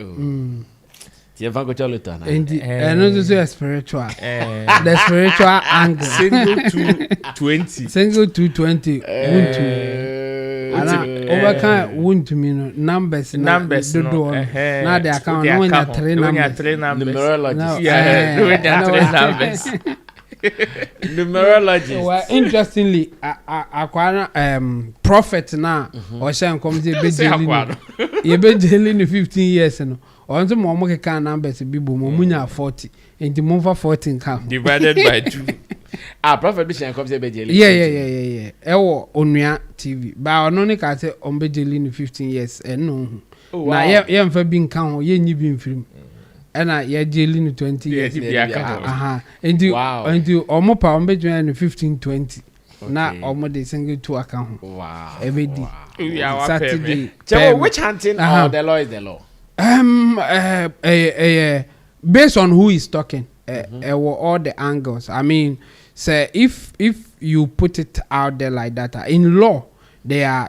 Mm. Ti yɛn fa nkɔtwa lota na. Nti eh. ɛno nso so yɛ spiritual. Eh. The spiritual angle. Single two twenty. Single two twenty. Wuntu. Eh. Ana wobɛka wuntumi no numbers na dodoɔ no na de aka ho na wonya three numbers. Numerology. Wonya three numbers. numerologist. Well, interestingly, akwaa no um, prophet no a mm-hmm. ɔhyɛ nkɔm sɛ yɛbɛgyeli no yɛbɛgyeli no 15 years no ɔno nso ma ɔmo keka numbers bi bom ɔmo nya 40 mm. nti momfa 40 nka ho divided by two ah prophet bi hyɛ nkɔm sɛ yɛbɛgyeli yeah yeah yeah yeah yeah ɛwɔ onua tv ba ɔno ne kaa sɛ ɔmo bɛgyeli no 15 years ɛno ho Na yɛ yɛnfa bi nka ho yɛnyi bi mfiri mu ɛna yɛgye li no twenty Na years yɛde bi aka ho. aha nti Wow. nti wɔn pa wɔn bɛtumi ayɛ no fifteen twenty na Okay. wɔn de single two aka ho Wow. ɛbɛdi Wow. Ewia wa pɛ me. Saturday Kyɛ pɛɛ wɔ me. which hunting Aha. or the law is the law? Um, uh, uh, uh, based on who is talking, uh, uh, were all the angles. I mean, so if if you put it out there like that, uh, in law there are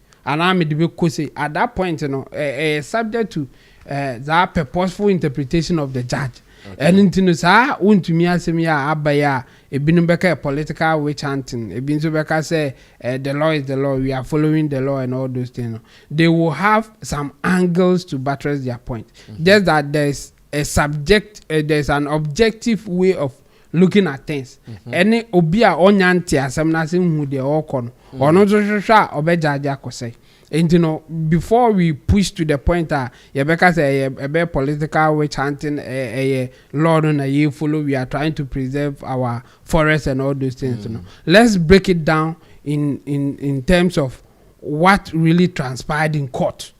anaa mede bɛkɔ sei at that point no ɛyɛ subject to that purposeful interpretation of the judge ɛno nti no saa wontumi asɛm yi a aba yi a ebinom bɛka yɛ political witch hunting ebi nso bɛka sɛ the law is the law we are following the law and all those things no they will have some angles to buttress their point mm -hmm. just that there is a subject uh, there is an objective way of looking at things ɛne obi a ɔnya nte asɛm no ase nhu deɛ ɔrekɔ no mm. ɔno nso hwehwɛ a ɔbɛgyaagye akɔsɛe nti no before we push to the point a yɛbɛka sɛ ɛyɛ ɛbɛ political witch hunting ɛyɛ law no na yɛ follow we are trying to preserve our forest and all those things no mm. let's break it down in in in terms of what really transpired in court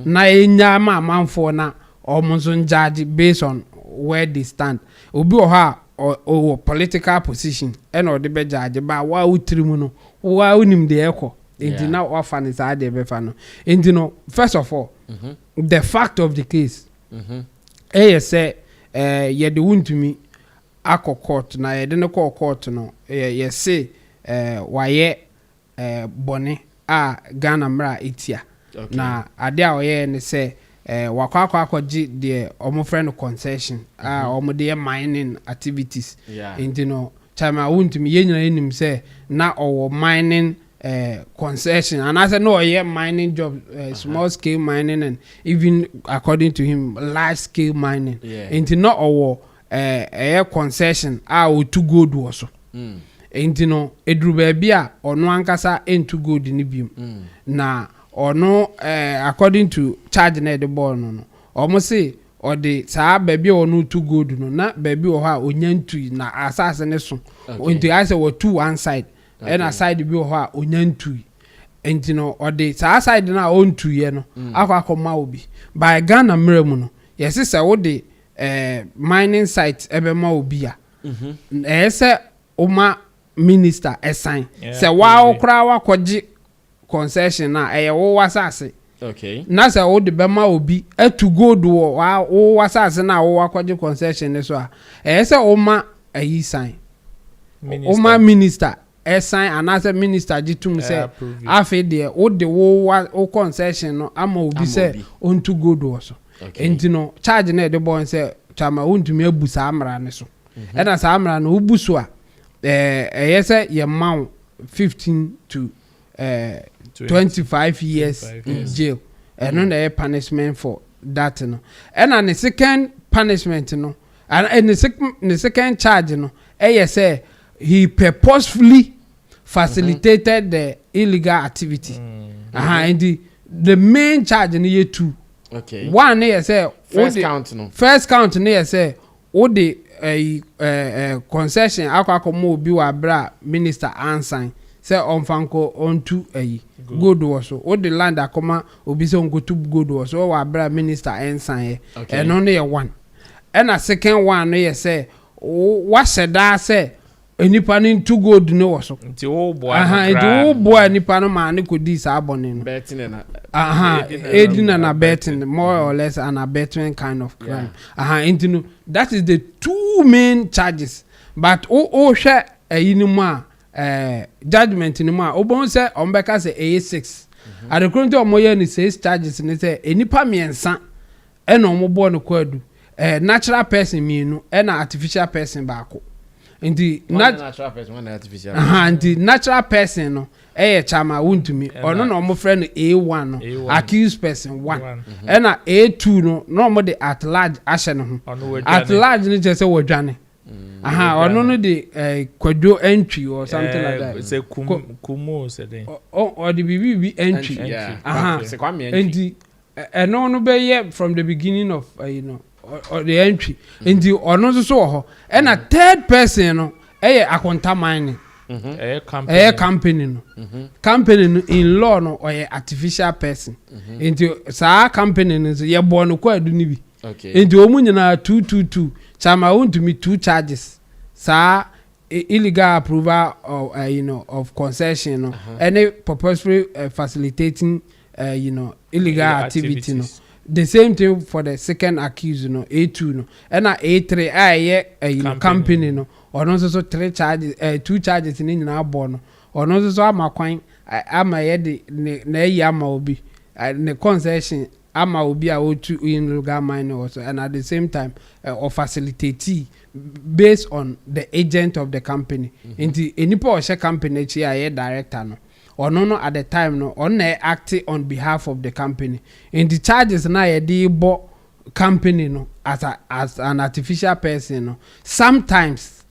na yɛnyaa ma amanfoɔ na wɔn nso njudge based on where they stand. Obi wɔ hɔ a ɔwɔ political position ɛna ɔde bɛ judge but wo a wo tiri mu no wo ara wonim deɛ ɛkɔ nti na wafa no saa deɛ ɛbɛfa no nti no first of all the fact of the case ɛyɛ sɛ eh, yɛde wo ntumi akɔ court na yɛde no kɔɔ court no yɛ, yɛse eh, wayɛ bɔne a Ghana mmara tia. Na adeɛ a ɔyɛeɛ ne sɛ, wakɔ akɔ akɔgye deɛ wɔfrɛ no concession a wɔde yɛ mining activities. Nti no, Chairman, wontumi, yɛn nyinaa nim sɛ na ɔwɔ mining concession anaasɛ na ɔyɛ mining job, small scale mining and even according to him large scale mining. Nti na ɔwɔ eh, ɛyɛ concession a ɔtu gold wɔ so. Enti no, ɛduru baabi a, ɔno ankasa ntu gold no biom. Na ɔno, eh, according to charge no a yɛde bɔɔ no no, wɔn se ɔde saa baabi a ɔno tu gold no, na baabi wɔ hɔ a ɔnya ntui, na asase no so. Okay. Nti ayɛ sɛ wɔtu one side, okay. ɛna side bi wɔ hɔ a ɔnya ntui. Enti no, ɔde saa side no a ɔntuiɛ no mm. akɔ akɔma obi. By Ghana mmerɛ mu no, yɛse sɛ wode eh, mining site ɛbɛma obi a mm-hmm. ɛyɛ sɛ woma minister ɛsan sɛ wawo koraa wakɔgye concession a ɛyɛ wo wasase okay. na sɛ wode bɛma obi atu gold wɔ wo wasase no a wo wakɔgye concession no so a ɛyɛ sɛ woma ayi san woma minister ɛsan anaasɛ minister gye tom sɛ afei deɛ wode wo wa wo concession no ama obi sɛ ɔntu gold wɔ so nti no charge no ɛde bɔ no sɛ twama wontumi abu saa mmara no so mm-hmm. ɛna saa mmara no wobu so a ɛyɛ sɛ yɛma wo 15 to 25 years in jail ɛno mm. na ɛyɛ punishment for that no ɛna ne second punishment no ne second charge no ɛyɛ sɛ He purposefully facilitated the illegal activity. Aha, nti the main charge no yɛ two. Okay. One no yɛ sɛ. First count no. First count no yɛ sɛ wode ɛyi ɛɛ concession akɔ akɔma obi wɔ abere a minister ansan sɛ ɔnfa nkɔ ɔntu ɛyi gold wɔ so. Wode land akɔma obi sɛ ɔnkɔtu gold wɔ so wɔ abere a minister ɛnsan yɛ. Ɛno no yɛ one. Ɛna second one no yɛ sɛ Woahyɛ da sɛ nnipa no ntu gold no wɔ so. Nti woboa no koraa. Nti woboa nipa no maa no kɔdii saa bɔne no. Betting and aiding and abetting more or less an abetment kind of crime. Nti no that is the two main charges but wohwɛ ayi no mu a judgement no mu a wobɛhu sɛ wɔbɛka sɛ ɛyɛ six. Adekoro nti wɔyɛ no six charges ne sɛ nnipa mmiɛnsa Ɛna ɔmo bɔɔ no kwaadu. Ɛɛ natural person mmienu ɛna artificial person baako. Nti na. Wɔn na natural person wɔn na artificial person. Ahaa nti natural person no ɛyɛ kyama wontumi ɔno na ɔmo frɛ no A one no accused person one ɛna A two no na ɔmo de at large ahyɛ ne ho at large no kyerɛ sɛ wɔdwane ahaa ɔno no de ɛɛ kwadwo ɛntwi or something like that. Sɛ kum kum o sɛ den. Ɔ ɔde biribi bi ɛntwi ahaa nti Ɛno no bɛyɛ from the beginning of ayi no ɔde antwi nti ɔno nso so wɔ hɔ ɛna third person no ɛyɛ akonta mining ɛyɛ company no company no in law no ɔyɛ artificial person nti saa company no nso yɛbɔɔ no kwaadu no bi nti wɔn nyinaa two two two kyama wontumi two charges saa illegal approval of, uh, you know, of concession no ɛne purposefully uh, facilitating eh, you know, illegal activity no the same thing for the second accused no a2 no ɛna a3 a ɛyɛ eh, you know, company no ɔno nso so three charges eh, two charges ne nyinaa bɔ no ɔno nso so ama kwan eh, ama ɛyɛ de ne na ayi ama obi eh, ne concession ama obi a ɔtu illegal mining wɔ so and at the same time eh, ɔ facilitate based on the agent of the company mm -hmm. nti nipa ɔhyɛ company akyi a ɛyɛ director no Ɔno no at the time no ɔno na acte on behalf of the company nti charges no a yɛde bɔ company no as a as an artificial person no sometimes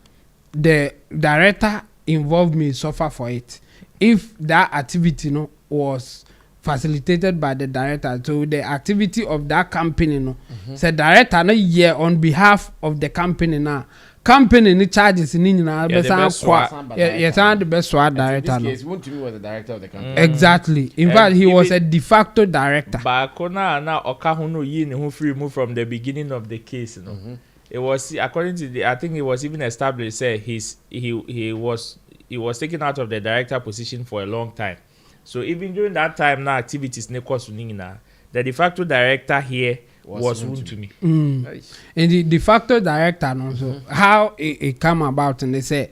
the director involved may suffer for it if that activity no was facilitated by the director so the activity of that company no sɛ director no yɛ on behalf of the company no a company no charges no nyinaa bɛsan akɔ a yɛsan de bɛsoa director no exactly in fact he was a de facto director baako no a na ɔka ho no yii ne ho firii mu from the beginning of the case no mm-hmm. it was according to the I think it was even established say he's he he was he was taken out of the director position for a long time So even during that time na activities ne kɔ so ne nyinaa, the de facto director here was Wontumi. Mm. the de facto director no nso, mm-hmm. how it, it come about ne sɛ,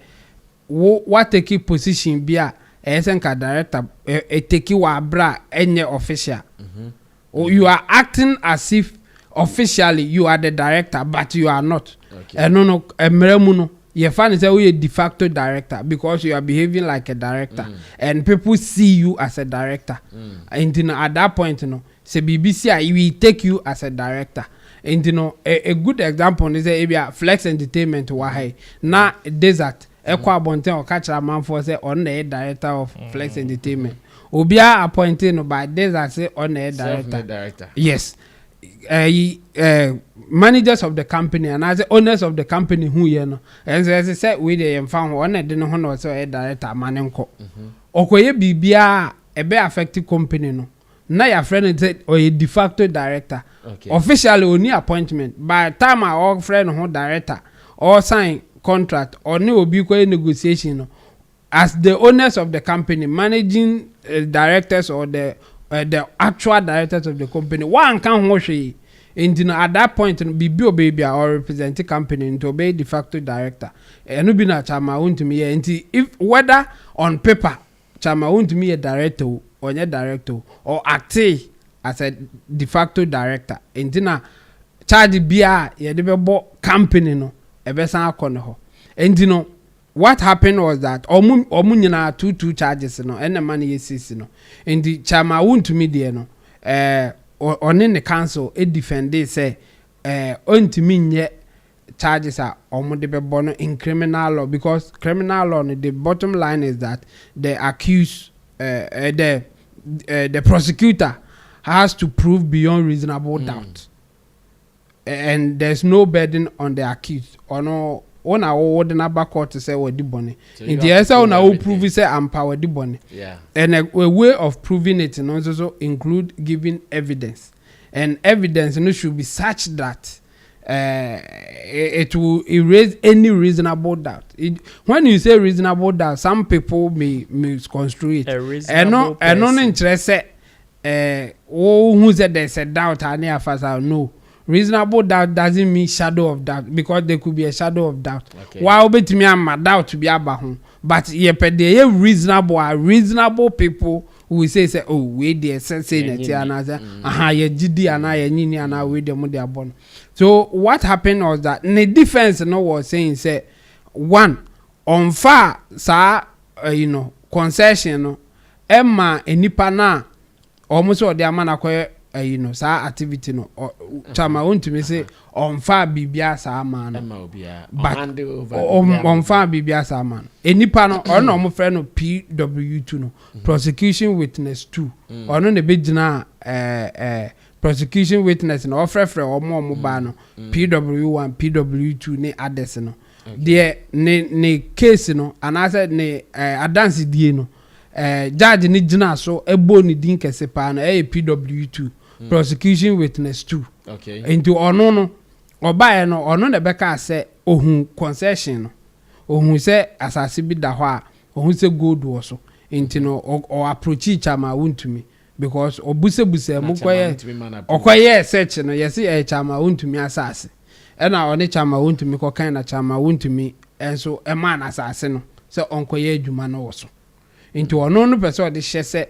wo wa take position bi a ɛyɛ sɛ nka director ɛtake wɔ abira ɛnyɛ official. Mm-hmm. You are acting as if officially you are the director but you are not. Ɛno no, mmara mu no, yɛfa no sɛ woyɛ de facto director because you are behaving like a director mm. and people see you as a director. Mm. Nti no, at that point no, sɛ biribi si a, we take you as a director. Nti no, a, a good example no sɛ ebia Flex Entertainment wɔ ha yi, na Desert ɛkɔ abɔnten a ɔka kyerɛ amanfoɔ sɛ ɔno na ɛyɛ director of flex entertainment obiara appointee no by this ase ɔno na ɛyɛ director yes ɛyi ɛɛ managers of the company anaasɛ owners of the company hu yɛ no ɛnso ɛsɛ sɛ wei deɛ yɛn fa ho ɔno na ɛde ne ho na ɔsɛ ɔyɛ director ama ne nkɔ ɔkɔyɛ biribiara a ɛbɛ affect company no na yɛafrɛ no sɛ ɔyɛ de facto director. Okay. Officially ɔni appointment by time a ɔfrɛ ne ho director, ɔresign contract, ɔne obi kɔyɛ negotiation no, as the owners of the company, managing eh, directors or the, uh, the actual directors of the company, wɔanka ho hwee. Nti no, at that point no, biribi wɔ baabi a ɔrepresent company nti ɔbɛyɛ de facto director. Ɛno bi na Chairman wontumi yɛ. Nti if whether on paper Tcharma ontumi yɛ director o, ɔnyɛ director o, ɔ actee as a de facto director, nti na charge biara a yɛde bɛbɔ company no ɛbɛsan akɔ ne hɔ. Nti no what happened was that ɔmo ɔmo nyinaa two two charges no ɛna ɛma no yɛ six no. Nti Tcharma ontumi deɛ no ɛɛ ɔ ɔne ne counsel defendee sɛ ɛɛ ɔntumi nyɛ charges a wɔn de bɛbɔ no in criminal law because criminal law no the bottom line is that the accused eh, eh, the eh, the prosecutor has to prove beyond reasonable doubt eh, and there is no burden on the accused ɔno wo na wo wode no aba court sɛ wadi bɔne So you nti have to ɛsɛ sɛ wo prove na wo everything. prove sɛ ampa wadi bɔne Yeah. and a, a way of proving it no nso so include giving evidence and evidence no should be such that eh, it will erase any reasonable doubt. It, when you say reasonable doubt, some people may misconstrue it. A reasonable person. Ɛno ne nkyerɛ sɛ eh, wohu sɛ there's a doubt a ne afa saa. No. Reasonable doubt doesn't mean shadow of doubt because there could be a shadow of doubt. Okay. Wa wobɛtumi ama doubt bi aba ho. But yɛpɛ deɛ ɛyɛ reasonable a reasonable people Wohu sei sɛ, oh, wei deɛ sɛ sei na ɛteɛ anaasɛ aha yɛgye di anaa yɛnye ni anaa wei deɛ mode abɔ no. So what happened was that ne defence no was saying sɛ one, ɔmfaa saa ɛyi no concession no ɛmaa nnipa no a wɔn sɛ ɔde ama no akɔyɛ ɛyi no saa activity no ɔ kyama ɔntumi se ɔmfaa biribiara saa maa no ɛma obiara but ɔhande over ɔm- biribiara ma no. ɔmfaa biribiara saa maa no nnipa no ɔno na wɔfrɛ no pw2 no Prosecution Witness Two, Ɔno na ɛbɛgyinaa ɛɛ Prosecution Witness na wɔfrɛfrɛɛ wɔn a wɔbaa no, PW One, PW Two ne others no. Deɛ ne ne case no anaasɛ ne ɛɛ adansedie no, ɛɛ judge no gyinaa so bɔɔ ne din kɛse pa ara no, ɛyɛ PW Two, Prosecution Witness Two. Nti ɔno no, ɔbaeɛ no, ɔno na ɛbɛkaa sɛ ɔhuu concession no. Ɔhuu sɛ asase bi da hɔ a ɔhu sɛ gold wɔ so nti no ɔ approachii Kyamaa wontumi because ɔbusabusaa mu kɔyɛ ɔkɔyɛɛ search no yɛse yɛyɛ Kyamaa wontumi asase ɛna ɔne Kyamaa wontumi kɔkae na Kyamaa wontumi nso maa no asase no sɛ ɔnkɔyɛ adwuma no wɔ so. Enti ɔno no pɛ sɛ ɔde hyɛ sɛ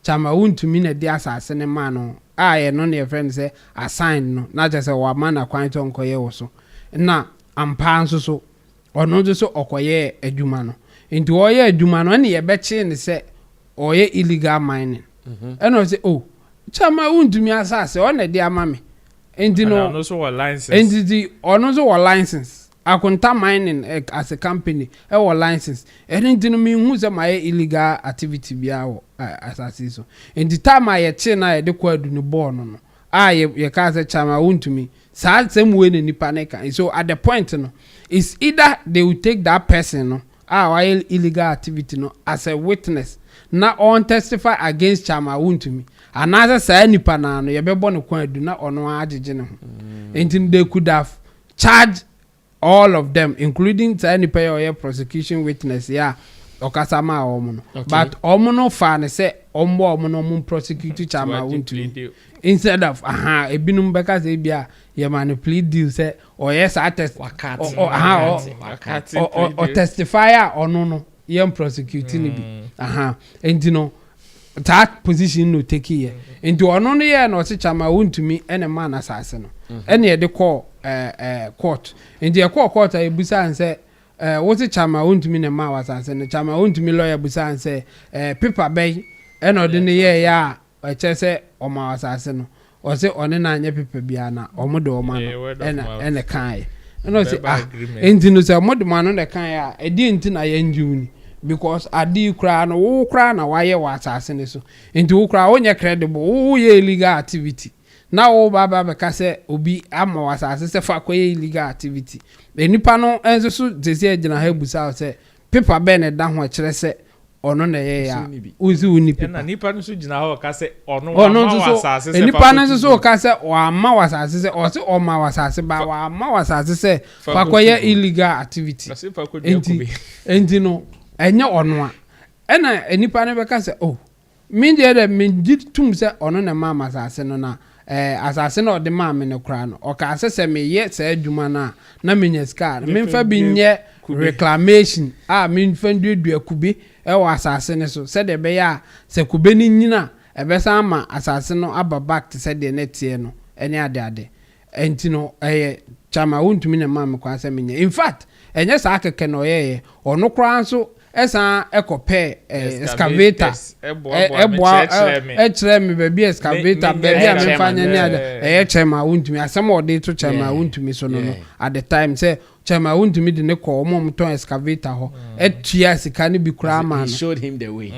Kyama Wontumi na de asase no maa no a ɛno na yɛfrɛ no sɛ assigned no na kyerɛ sɛ wɔama no akwan sɛ ɔnkɔyɛ wɔ so. Ɛna ampa ara nso so ɔno nso so ɔkɔyɛɛ adwuma no. Enti ɔreyɛ adwuma no ɛna yɛbɛkyee no sɛ ɔreyɛ illegal mining. Ɛna ɔse oh Kyama Wontumi asase ɔno na ɛde ama me. Enti no, enti ɔno nso wɔ license. Akonta mining ek as a company wɔ license ɛno nti no me nhu sɛ mayɛ illegal activity biara wɔ asase yi so nti time a yɛkyee no a yɛde kɔ aduni bɔɔ no no a yɛ kaa sɛ chama wontumi saa nsɛm wei na nipa no ka so at the point no it's either they will take that person no a wayɛ illegal activity no as a witness na ɔn testify against chama wontumi anaasɛ saa nipa no ara no yɛbɛbɔ no kwan adu na ɔno ara agyegye ne ho nti no they could have charge all of them including saa nipa yi a ɔyɛ prosecution witness yi a ɔkasa maa wɔn no but wɔn no faa no sɛ wɔn bɔ wɔn no wɔn prosecute kya ma wɔn ntumi instead of aha ebinom bɛka sɛ ebi a yɛ ma no plead deal sɛ ɔyɛ saa test ɔ ɔ aha ɔ ɔ testify a ɔno no. yɛn prosecute no bi aha nti no taa position no take yɛ nti ɔno no yɛ na ɔkyekyɛ ma wontumi ɛna ma na saase no ɛna yɛde kɔ ɛɛ ɛɛ court nti ɛkɔ court a ebusa nsɛ ɛɛ wote chama wontumi na ma wasaase no chama wontumi lawyer busa nsɛ ɛɛ paper bɛyi ɛna ɔde no yɛ yɛ a. Ɔkyɛ sɛ ɔma asase no. Ɔse ɔne no anyɛ pepa biaa na ɔmo de ɔma no ɛna kaeɛ. Ɛna ɔse ah enti no sɛ ɔmo de ma no na ɛkaeɛ a ɛdeɛn nti na yɛngye wo ni because ade yi koraa no wo koraa na wayɛ wɔ asase no so enti wo koraa wonyɛ credible wo woyɛ illegal activity na wo ba ba bɛka sɛ obi ama wo asase sɛ fa kɔyɛ illegal activity. Nnipa no nso so sɛsi agyina ha abusa wo sɛ pepa bɛn na ɛda ho ɛkyerɛ sɛ Ɔno na ɛyɛɛ a wonsi wo nni pepa. Ɛna nipa no nso gyina hɔ ka sɛ ɔno wama wɔ asase sɛ fa kɔtu. Nipa no nso so ka sɛ wama wɔ asase sɛ ɔse ɔma wɔ asase ba wama wɔ asase sɛ fa kɔyɛ illegal activity. Ɔse fa kɔdua kube. Enti no ɛnyɛ ɔno a ɛna nipa no bɛka sɛ oh. Me deɛ dɛ, megye tom sɛ ɔno na ɛmaa me asase no, na ɛɛ, asase no a ɔde maa me no koraa no, ɔkaa sɛ sɛ meyɛ saa adwuma no a na menya sika a, memfa bi nyɛ reclamation a memfa nduadua kube wɔ asase no so sɛdeɛ ɛbɛyɛ a sɛ kube no nyin a, ɛbɛsan ama asase no aba back te sɛ deɛ na ɛteɛ no ne adeade. Ɛnti no ɛyɛ Chama wontumi na ɛmaa me kwan sɛ menyɛ. In fact, ɛnyɛ saa kɛkɛ na ɔyɛeɛ, ɔno koraa nso san kɔ pɛɛ excavator boa kyerɛɛ me baabi a excavator, baabi a memfa nyɛ ne ade. Ɛyɛ Chama wontumi, asɛm a ɔde to Chama wontumi so no no at the time sɛ Kyɛ ma wontumi de no kɔ wɔn a wɔtɔn excavator hɔ. Etua sika no bi koraa maa no. He showed him the way.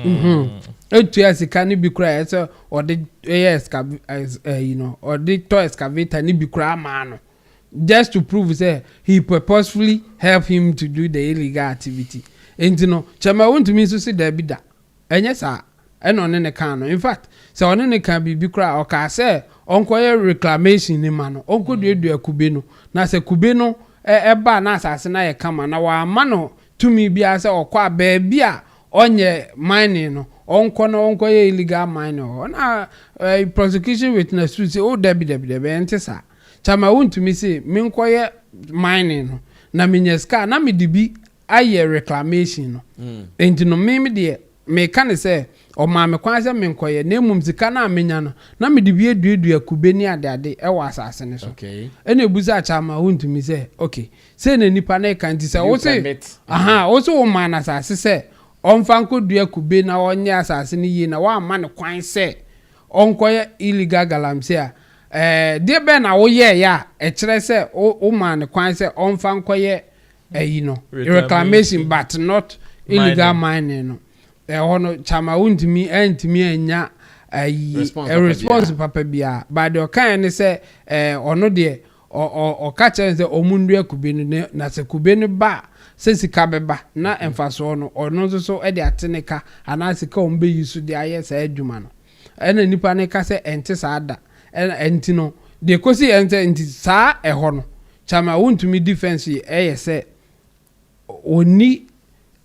Etua sika no bi koraa a ɛsɛ ɔde yɛ excavator ɛyi no, ɔde tɔ excavator no bi koraa maa no. Just to prove sɛ he purposefully helped him to do the illegal activity. Enti no, kyɛ ma wontumi nso se daabi da. Ɛnyɛ saa? Ɛna ɔne no kaa no. Infact, sɛ ɔne no kaa biribi koraa a, ɔkaa sɛ ɔnkɔyɛ reclamation no ma no, ɔnkɔduadua kube no, na sɛ kube no ba a na asase no ayɛ kama, na wamma no tumi biara sɛ ɔkɔ a baabi a ɔnyɛ mining no, ɔnkɔ na ɔnkɔyɛ illegal mining wɔ hɔ. Ɛna prosecution witness nso se, oh, dabi, dabi, dabi, ɛnte saa. Kyama wontumi se menkɔyɛ mining no na menya sika a na mede bi ayɛ reclamation no nti no me me deɛ meka ne sɛ ɔmaa me kwan sɛ menkɔyɛ na mmom sika no a menya no na mede bi aduadua kube ne adeade wɔ asase no so ɛna ɛbu sɛ akyɛ ama wontumi sɛ ok sei na nipa no ɛka nti sɛ wo se aha wo se wo maa no asase sɛ ɔmfa nkɔdua kube na ɔnyɛ asase no yie na woamma no kwan sɛ ɔnkɔyɛ illegal galamsey a ɛɛ deɛ bɛn na woyɛɛyɛ a ɛkyerɛ sɛ wo maa no kwan sɛ ɔmfa nkɔyɛ Ayi no, reclamation but not illegal mining no, ɛhɔ no Chama wontumi antumi annya ayi response papa biara but deɛ ɔkaeɛ ne sɛ ɔno deɛ ɔka kyerɛ no sɛ ɔmo nnua kube no na sɛ kube no ba a sɛ sika bɛba na mfasoɔ no ɔno nso so de ate ne ka anaa sika a ɔmo bɛyi so de ayɛ saa adwuma no. Ɛna nnipa no ka sɛ, Ɛnte saa da. Ɛna ɛnti no, deɛ ɛkɔsi ɛn sɛ nti saa ɛhɔ no, Chama wontumi di fɛnse yi, ɛyɛ sɛ ɔnni,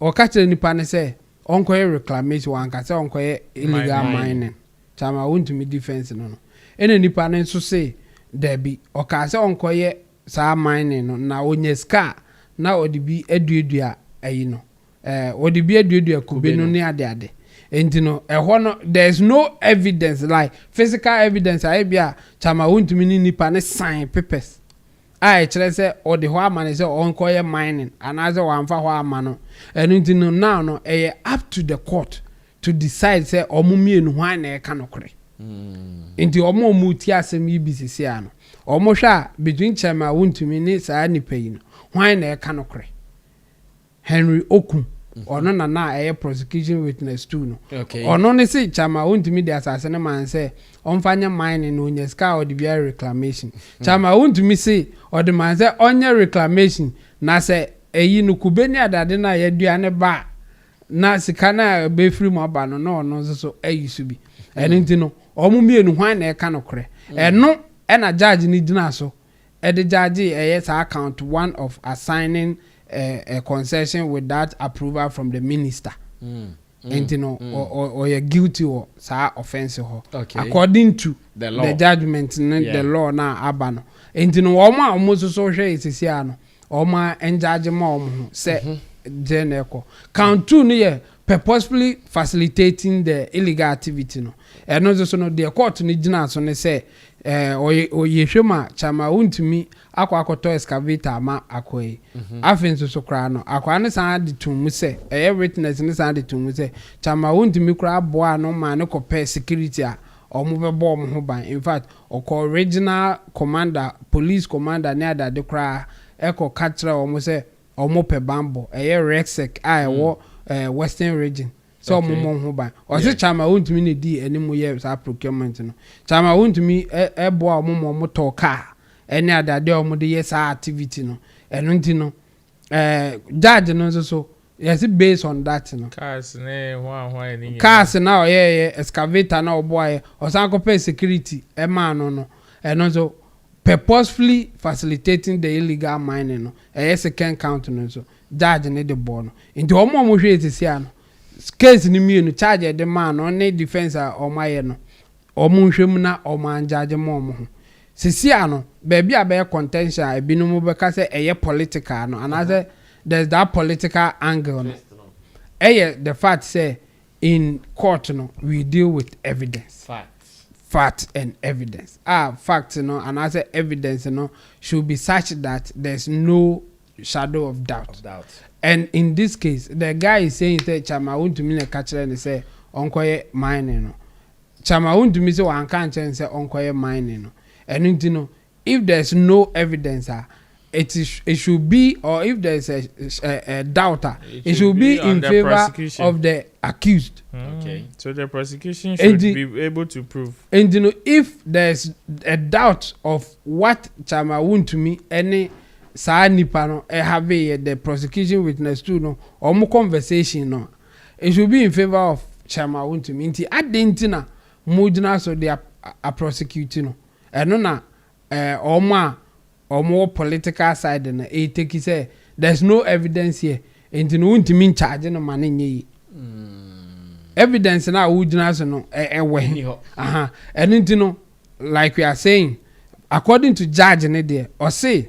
ɔka kyerɛ nnipa no sɛ ɔnkɔyɛ reclamation, wanka sɛ ɔnkɔyɛ illegal mining. Chama wontumi di fɛnse no no. Ɛna nnipa no nso se, Dabi. Ɔkaa sɛ ɔnkɔyɛ. saa mining no na ɔnya sika a na ɔde bi aduadua ayi no eh, ɔde bi aduadua kube no ne ade ade. Enti no ɛhɔ no there is no evidence like physical evidence a ebia Chama wontumi ne nipa no sign papers a ɛkyerɛ sɛ ɔde hɔ ama no sɛ ɔnkɔyɛ mining anaasɛ wamfa hɔ amma no. Ɛno nti no now no ɛyɛ up to the court to decide sɛ wɔn mmienu hwan na ɛka nokorɛ nti wɔn a wɔn retie asɛm yi bi seseaa no wɔn hwɛ a between Kyɛrema Awontumi ne saa nipa yi no hwan na ɛka nokorɛ Henry Okum ɔno na na ɛyɛ prosecution witness two no Okay. ɔno ne se Kyɛrema Awontumi de asase no maa no sɛ ɔmfa nyɛ mining na onya sika a ɔde bi ayɛ reclamation Kyɛrema Awontumi se ɔde maa no sɛ ɔnyɛ reclamation na sɛ ɛyi no kube ne adade no a yɛadua no ba a na sika no a ɛbɛfiri mu aba no, na ɔno nso so ayi so bi. Ɛno nti no, wɔn mmienu, hwan na ɛka nokorɛ? Ɛno na judge no gyinaa so de judgee ɛyɛ saa count one of assigning a concession without approval from the minister. Ɛnti no, ɔyɛ guilty wɔ saa offence hɔ according to the judgement ne the law no a aba no. Ɛnti no, wɔn a wɔn nso so rehwɛ yɛ seesei ara no, Wɔn a ɛngyaagye ma wɔn ho sɛ deɛn na ɛkɔ. Count two no yɛ purposefully facilitating the illegal activity no. Ɛno nso so no, deɛ court no gyina so ne sɛ ɔyɛ ɔyɛ hwɛ mu a Chama wontumi akɔ akɔtɔ excavator ama akoa yi. Afei nso so koraa no, akoa no san de too mu sɛ, ɛyɛ witness no san de too mu sɛ, Chama wontumi koraa boaa no maa no kɔpɛɛ security a wɔbɛbɔ wɔn ho ban. In fact, Ɔkɔɔ Regional Commander, Police Commander ne adeade koraa kɔ ka kyerɛɛ wɔn sɛ wɔn pɛ banbɔ, ɛyɛ RECSEC a ɛwɔ Western Region sɛ wɔn mmɔ ho ban. Ɔse Chairman Wontumi na edii anim yɛɛ saa procurement no. Chairman Wontumi boaa wɔn ma wɔtɔɔ car ne adeade a wɔde yɛ saa activity no. Ɛno nti no Eh, judge no nso so, yɛse based on that no. Cars ne hwan hwan ne nyinaa. Cars na ɔyɛɛyɛ, excavator na ɔboaeɛ, ɔsan kɔpɛɛ security ɛmaa no no, ɛno nso purposefully facilitating the illegal mining no, ɛyɛ second count no nso, judge no de bɔɔ no. Nti wɔn a wɔhwɛɛ sesia no, case no mmienu, charge a yɛde maa no ne defence a wɔayɛ no, Wɔnhwɛ mu na wɔangyagye mo wɔn ho. Seesei a no, baabi a bɛyɛ contention a binom bɛka sɛ ɛyɛ political no, anaasɛ there's that political angle no, ɛyɛ the fact sɛ in court no we deal with evidence, fact and evidence, a fact no anaasɛ evidence no should be such that there's no shadow of doubt. And in this case, the guy is saying sɛ Kyama wontumi na ɛka kyerɛ no sɛ ɔnkɔyɛ mining no. Chama wontumi sɛ wanka ankyerɛ no sɛ ɔnkɔyɛ mining no ɛno nti no if there is no evidence a it is it should be or if there is a, a, a doubt a it, it should be, be in favour of the accused. Mm. Okay. So the prosecution should enti, be able to prove. Enti no if there is a doubt of what Chama wontumi ɛne saa nipa no ɛhaveyɛ the prosecution witness to no ɔmo conversation no. It will be in favour of Kyerema Wontumi nti adɛn nti na mo gyina so de a prosecute no ɛno na eh wɔn a wɔn wɔ political side no eh take sɛ there's no evidence here nti no wontumi ncharge no ma no nyɛ yie Evidence no a wo gyina so no eh ɛwɔ he Ɛnni hɔ. aha ɛno nti no like we are saying according to judge no deɛ ɔse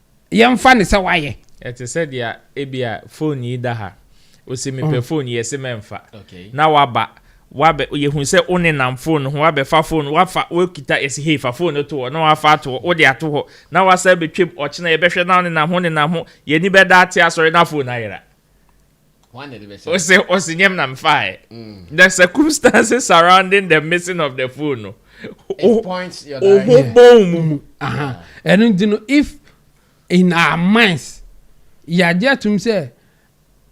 Yɛmfa no sɛ woayɛ. Ɛte sɛ deɛ ebia phone yi da ha. Ose mepɛ phone yi, ɛse mɛmfa. Na waba, wabɛ, yɛhu sɛ wonenam phone no ho, wabɛfa phone no, wafa, wakita, yɛse hei fa phone no to hɔ, na wafa ato hɔ, wode ato hɔ, na wasan betwam, ɔkyena yɛbɛhwɛ na wonenam ho, wonenam ho, yɛn ani bɛda ate asɔre na phone no ayera. Hwan na ɛde bɛhyɛ? Ose ose nyɛm na mfae. Mm. The circumstances surrounding the missing of the phone no. It points your direction. Oho bɔn mu. Mm. Aha. Ɛno nti no if in our minds yɛagye atum sɛ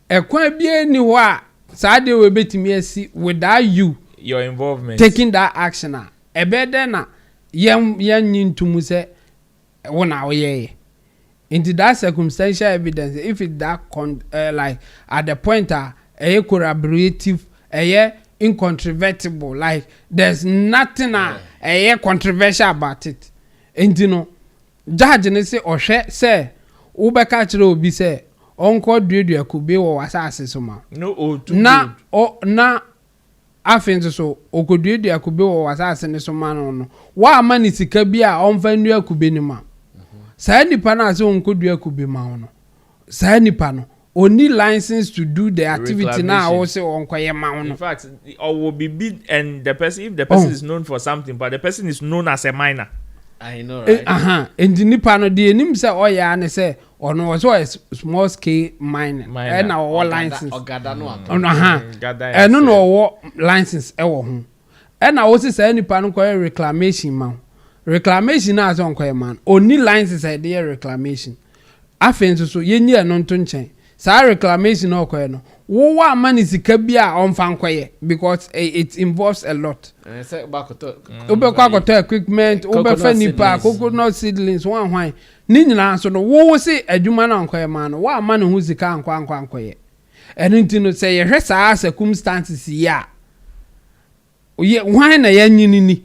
ɛkwan biara ni hɔ a saa deɛ wɔ ebetumi asi without you your involvement taking that action a ɛbɛyɛ dɛ na yɛn yɛn nyi ntum sɛ Wo na woyɛeɛ. Nti that circumstantial evidence if it's that con eh, like at the point a ɛyɛ corroborative, ɛyɛ incontrovertible, like there's nothing a ɛyɛ controversial about it. Nti no, judge no se ɔhwɛ sɛ wobɛka akyerɛ obi sɛ ɔnkɔ duadua kube wɔ w'asase so ma wo. Na ɔɔtu gold. Na, ɔ, na. Afei nso so, okoduadua kube wɔ w'asase no so ma no no, woamma no sika bi a ɔmfa nnua kube no ma wo. Saa nipa no a sɛ onkodua kube ma wo no, saa nipa no, onni license to do the activity no a wose ɔnkɔyɛ ma wo no. In fact, ɔwɔ biribi and the person, if the person is known for something mpo a, the person is known as a minor. I know right? Aha, enti nipa no, deɛ yɛnim sɛ ɔyɛ ara ne sɛ Ɔno ɔsɛ ɔyɛ small scale mining ɛna ɔwɔ license. Ɔgada no atɔ. Ɔno ha ɛno na ɔwɔ license ɛwɔ ho. Ɛna wosi saa nipa no kɔyɛ reclamation ma wo. Reclamation na asɛ ɔnkɔyɛ ma no. Onni license a yɛde yɛ reclamation. Afei nso so yɛnyi ɛno nto nkyɛn. Saa reclamation a ɔkɔyɛ no wo woamma no sika bi a ɔmfa nkɔyɛ because it involves a lot. Ɛɛ sɛ wobɛkɔ akɔtɔ. Wobɛkɔ akɔtɔ equipment, wobɛfa nipa, coconut seedlings, hwan hwan. Ne nyinaa nso no, wo wo se adwuma no ankɔyɛ maa no, woamma ne ho sika ankɔ ankɔ ankɔyɛ. Ɛno nti no, sɛ yɛhwɛ saa circumstances yi a, yɛ, hwan na yɛnye no ni?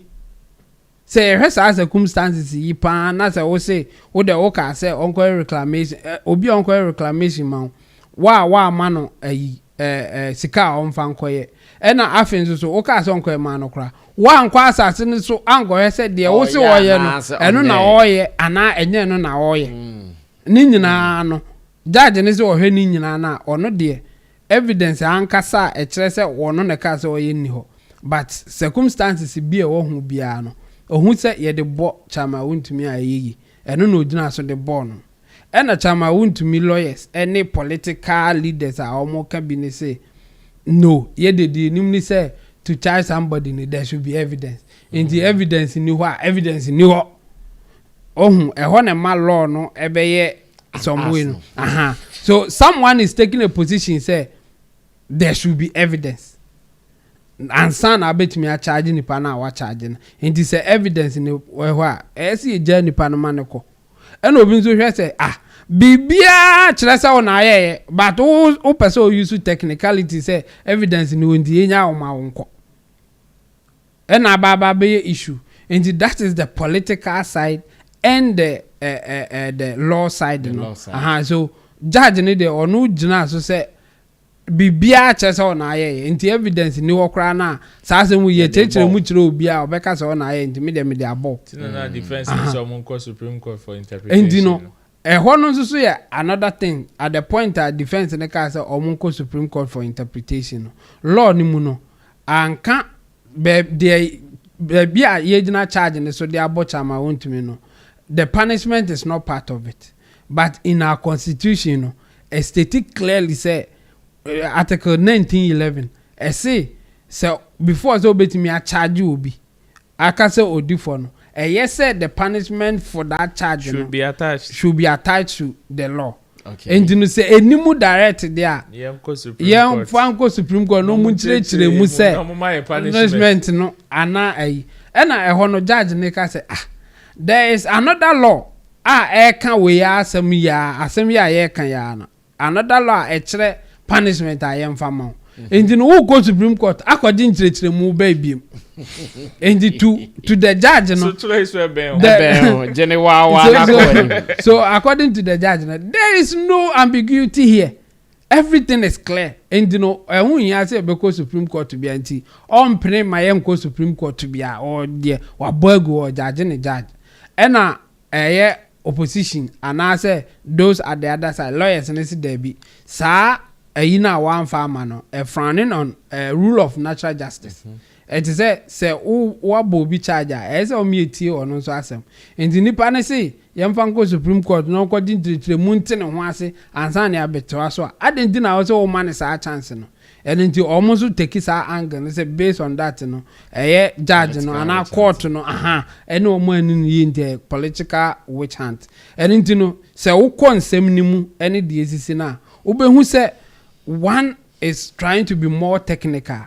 Sɛ yɛhwɛ saa circumstances yi paa na sɛ wo se, wo dɛ wo kaa sɛ ɔnkɔyɛ reclamation, ɛ, obi a ɔnkɔyɛ reclamation ma wo, wo a woamma no ayi, ɛ, ɛ, sika a ɔmfa nkɔyɛ, ɛna afei nso so, wo kaa sɛ ɔnkɔyɛ maa no koraa, Woankɔ asase no so ankɔhwɛ sɛ deɛ wose wɔyɛ no, ɛno na wɔyɛ anaa ɛnyɛ ɛno na wɔyɛ. Ne nyinaa no, judge no sɛ ɔhwɛ ne nyinaa no a, ɔno deɛ, evidence ankasa a ɛkyerɛ sɛ ɔno na ɛkaa sɛ ɔyɛ nni hɔ. But circumstances bi a wahu biara no, ɔhu sɛ yɛde bɔ kyama a wontumi anyɛ yie. Ɛno na ɔgyinaa so de bɔɔ no. Ɛna Kyama wontumi lawyers ne political leaders a wɔka bi ne se no yɛde deɛ yɛnim ne sɛ to charge somebody no there should be evidence nti evidence nni hɔ a evidence nni hɔ ohu ɛhɔ na ɛma law no ɛbɛyɛ some way no aha so someone is taking a position sɛ There should be evidence ansa na wobɛtumi a charge nipa no a wa charge no. Nti sɛ evidence no wɔ hɔ a, ɛyɛ sɛ yɛgyaa nipa no ma no kɔ. Ɛna obi nso hwɛ sɛ ah, biribiara kyerɛ sɛ wo na ayɛeɛ but wo wopɛ sɛ wo use technicality sɛ evidence no wɔ nti yɛnyaa wo ma wo nkɔ. Ɛna aba aba abɛyɛ issue. Nti that is the political side and the eh, eh, eh, the law side The no. law side. Aha, so judge no deɛ ɔno gyinaa so sɛ Biribiara kyerɛ sɛ ɔna ayɛ yɛ nti evidence nni hɔ koraa na saa asɛm yi yɛ kyerɛkyerɛ mu kyerɛ obi a ɔbɛka sɛ ɔna ayɛ nti me deɛ mede abɔ wo. Nti na na defence no sɛ ɔmo nkɔ supreme court for interpretation no. Nti no ɛhɔ no nso so yɛ another thing at the point a defence no kaa sɛ ɔmo nkɔ supreme court for interpretation no law no mu no anka bɛɛ deɛ baabi a yɛagyina charge no so de abɔ Kyama a ɔntumi no the punishment is not part of it. but in our constitution no ɛ state clearly sɛ article nineteen eleven ɛse sɛ before sɛ wobɛtumi a charge obi aka sɛ ɔdi fɔ no ɛyɛ sɛ the punishment for that charge no should be attached to the law ɛnti no sɛ ɛni mu direct deɛ a yɛmfa nkɔ supreme court no mu nkyerɛkyerɛ mu sɛ punishment no anaa ayi ɛna ɛhɔ no judge ne ka sɛ ah there is another law A ɛreka wei ara asɛm yi ara, asɛm yi a yɛreka yi ara no, another law a ɛkyerɛ punishment a yɛmfa mma wo. Enti no wokɔ Supreme Court akɔgye nkyerɛkyerɛmu bɛn biom? Enti to to the judge no. So kyerɛ yi so ɛbɛn o. The- Ɛbɛn o, gye ne waa waa So- na so- akɔ anim. So according to the judge no, there is no ambiguity here. Everything is clear nti no ɛho nhia sɛ yɛbɛkɔ supreme court biara nti ɔmpene mma yɛnkɔ supreme court biara ɔwɔ deɛ wabɔ agu hɔ judge ne judge ɛna ɛyɛ opposition anaasɛ those at the other side lawyers no se daabi saa ayi no a wamfa ama no frowning on rule of natural justice Ɛte sɛ sɛ wo woabɔ obi charge a, ɛyɛ sɛ wɔyɛ tie ɔno nso asɛm. Enti nnipa no se yɛmfa nkɔ Supreme Court na ɔnkɔgye nkyerɛkyerɛmu nte ne ho ase ansa na yɛabɛtoa so a, adɛn nti na ɛwɔ sɛ woma no saa chance no? Ɛno nti wɔn nso take saa angle no sɛ based on that no, ɛyɛ judge no anaa court no aha ɛne wɔn a ɛne no yɛ nti ɛyɛ political witch hunt. Ɛno nti no, sɛ wokɔ nsɛm no mu ne deɛ ɛsisi no a, wobɛhu sɛ one is trying to be more technical,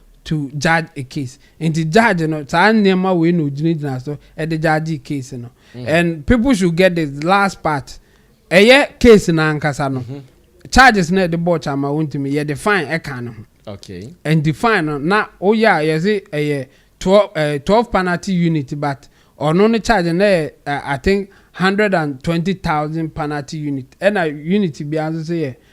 to judge a case nti judge no saa nneɛma wei na ogyinagyina so ɛde judge case no mm. and people should get this last part ɛyɛ case na ankasa no mm-hmm. charges na ɛde bɔ chama wontumi yɛde fine ɛka no ho okay and the fine no na oyɛ a yɛse ɛyɛ twelve ɛɛ eh, twelve penalty unit but ɔno ne charge na yɛ eh, i think hundred and twenty thousand penalty unit ɛna unit bi nso so yɛ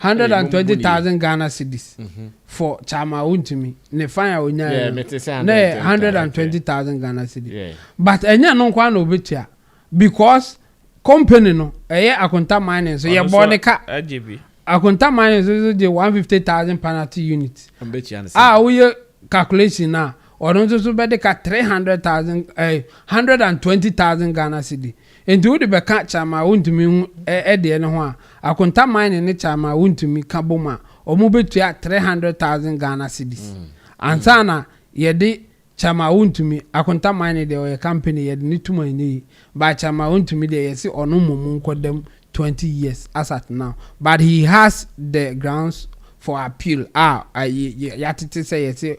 hundred and twenty thousand Ghana cedis for Charma Wontumi ne fine a onyae Yeah, no mete sɛ na yɛ 120,000, hundred and twenty thousand Ghana cedis Yeah. but ɛnyɛ ɛno nko ara na obetua because company no ɛyɛ Akonta mining so yɛ bɔɔ ne ka agye bi Akonta mining nso nso gye one fifty thousand penalty unit Ɔmbɛtua no a sɛ. woyɛ calculation no a ɔno nso so bɛde ka three hundred thousand ɛɛ hundred and twenty thousand Ghana cedi Enti wode bɛka Kyan Ma Wontumi Nhu deɛ no ho a, Akonta Mining ne Kyan Ma Wontumi ka bom a, wɔbɛtua three hundred thousand Ghana cedis. Ansa na yɛde Kyan Ma Wontumi, Akonta Mining deɛ ɔyɛ company, yɛde no tom a ɛnyɛ yie. But Kyan Ma Wontumi deɛ yɛse ɔno mmom nkɔ dam twenty years as at now. But he has the grounds for appeal a yɛatete sɛ yɛse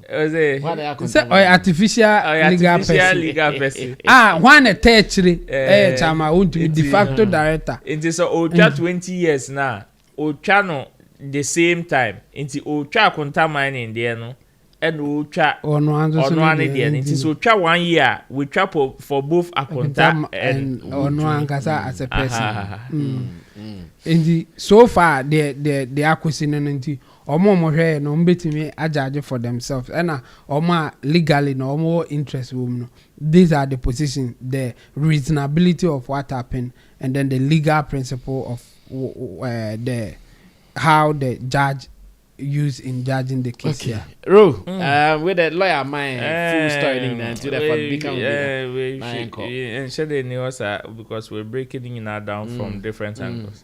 sɛ ɔyɛ artificial legal person ah hwan na ɛtɛ akyire ɛyɛ kyama wontumi de facto director nti sɛ ɔtwa mm. twenty years na ɔtwa no the same time nti ɔtwa akonta mining deɛ no ɛna ɔtwa ɔno ane deɛ no nti sɛ ɔtwa one year a wɔtwa for both akonta and ɔno ankasa mm. as a person mm. nti so far deɛ deɛ deɛ akɔsi no no nti Wɔn a wɔhwɛeɛ no wɔn bɛtumi a judge for themselves ɛna wɔn a legally na wɔn wɔ interest wɔ mu no these are the positions the reasonability of what happened and then the legal principle of the how the judge use in judging the case okay. yeah. Ro, mm. um, with the lawyer my full story ni nyinaa nti dɛfɔ bi ka ho bi na yɛnkɔ. Nhyɛ de ni hɔ saa because we're breaking it nyinaa down mm. from different mm. angles.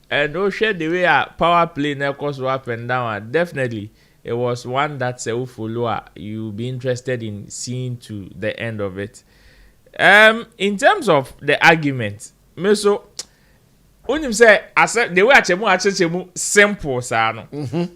And wo hwɛ the way a power play no ɛkɔ so up and down a definitely it was one that sɛ wo follow a you will be interested in seeing to the end of it. Um, in terms of the argument, me so wonim sɛ asɛ the way akyɛ mu akyɛkyɛ mu simple saa no. Mm-hmm.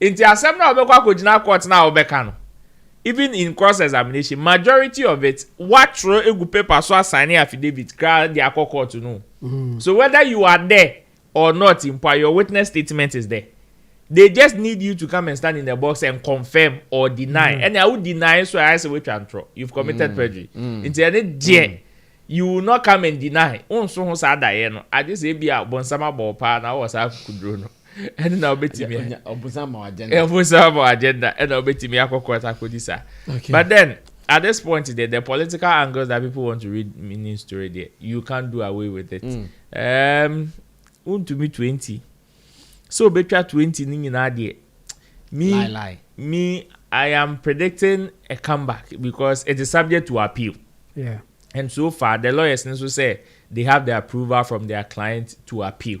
Nti asɛm no a wobɛkɔ akɔgyina court no a wobɛka no, even in cross examination, majority of it woatwerɛ agu paper so assigne affidavit koraa de akɔ court no o. So whether you are there or not mpo a your witness statement is there. They just need you to come and stand in the box and confirm or deny. Ɛnea wo deny nso a ayɛ sɛ woatwa ntorɔ. You've committed perjury. Nti ɛne deɛ you will not come and deny. Wonso ho saa daeɛ no agye sɛ ebia bonsam abɔ wo paa na wowɔ saa akukuduro no. ɛno na wobɛtumi ɔbosam ma agenda ɔbosam ma agenda ɛna wobɛtumi akɔ court akɔdi saa okay. but then at this point the, the political angles that people want to read meaning story there you can't do away with it mm. um, wontumi 20 so wobɛtwa 20 no nyinaa deɛ me, lie, lie. me i am predicting a comeback because it is subject to appeal yeah. and so far the lawyers also say they have the approval from their client to appeal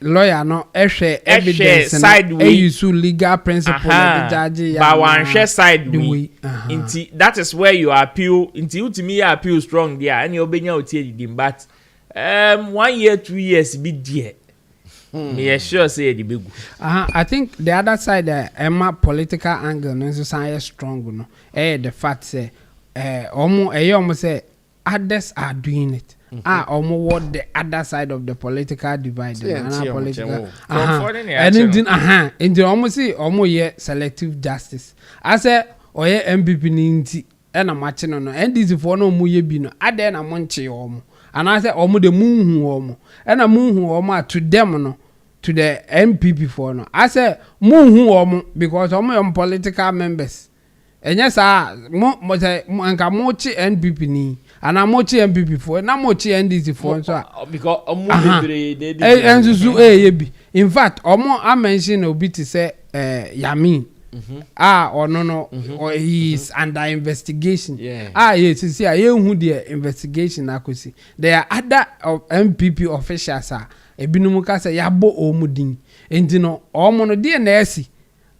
Lawyer no hwɛ evidence no use legal principle na ɛde gyaagye yɛ anaa. Ba wanhwɛ side wei. Nti that is where your appeal nti wotumi yɛ appeal strong deɛ a ɛnna wobɛnya otie didim but um, one year two years bi deɛ meyɛ hmm. sure sɛ yɛde bɛgu. I think the other side eh, ɛma political angle no nso san yɛ strong no ɛyɛ the fact sɛ eh, ɔmo ɛyɛ ɔmo sɛ Others are doing it a ɔmo wɔ the other side of the political divide no anaa political ɛno nti nti ɔmo si ɔmo yɛ selective justice asɛ ɔyɛ npp no nti ɛna mo akye no no ndc foɔ no ɔmo yɛ bi no adɛn na mo nkye ɔmo anaasɛ ɔmo de mo nhu ɔmo ɛna mo nhu ɔmo a to them no to the npp foɔ no asɛ mo nhu ɔmo because ɔmo yɛ ɔmo political members Ɛnyɛ saa a, mo, mo sɛ mo, anka morekye NPP ni, anaa morekye NPP foɔ, na morekye NDC foɔ nso a. Because wɔn mu bebree na ɛdi bi. Nsusu ɛreyɛ bi. In fact, wɔn a mention obi te sɛ eh, Yamin, a ɔno no, he is under investigation, a yɛ sisi a yɛnhu deɛ investigation no akɔsi. There are other NPP officials a ebinom ka sɛ yɛabɔ wɔn din. Enti no, wɔn no, deɛ na ɛsi?